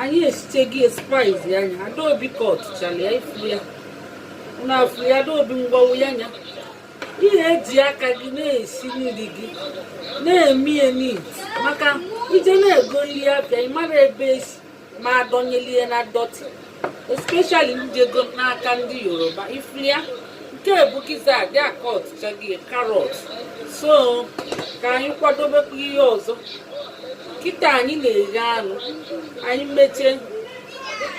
anyị esichego spice ya nya adaobi cut chala ya ị fụ ya na afụ ya adaobi ngwa wụ ya nya ihe eji aka gị na-esi nri gị na-eme ya neat maka ị je na-ego nri abịa ị mara ebe esi ma adọnyelie na dọtị especially ndị ego n'aka ndị yoruba ị fụ ya nke a bụ gizzard a cut chago carrot so ka anyị kwadobekwa ihe ọzọ kịta anyị na-eghe anụ anyị mechie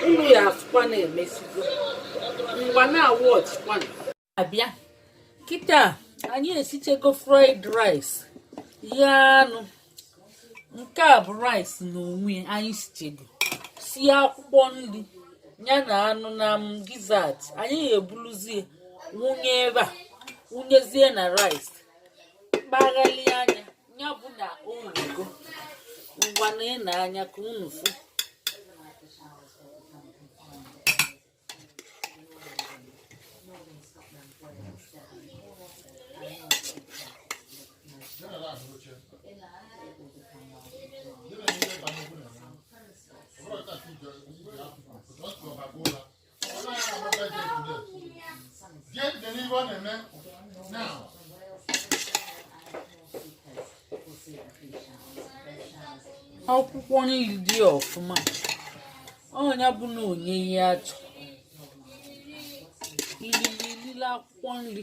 unu ya afụkwa na emesigo ngwa na-awọchikwana abịa kịta anyị esichego fried rice ghee anụ nke a bụ rice na onwe anyị sichego sie akwụkwọ nri ya na anụ na gizzard anyị ga-ebuluzie wụnye ebe a wụnyezie na rice kpaghalie anya ya bụ na o nwego ngwa nene anya ka unu fụ akwụkwọ nri dị ọfụma ọ nya bụ na onye ihe achọ ilili ilile akwụkwọ nri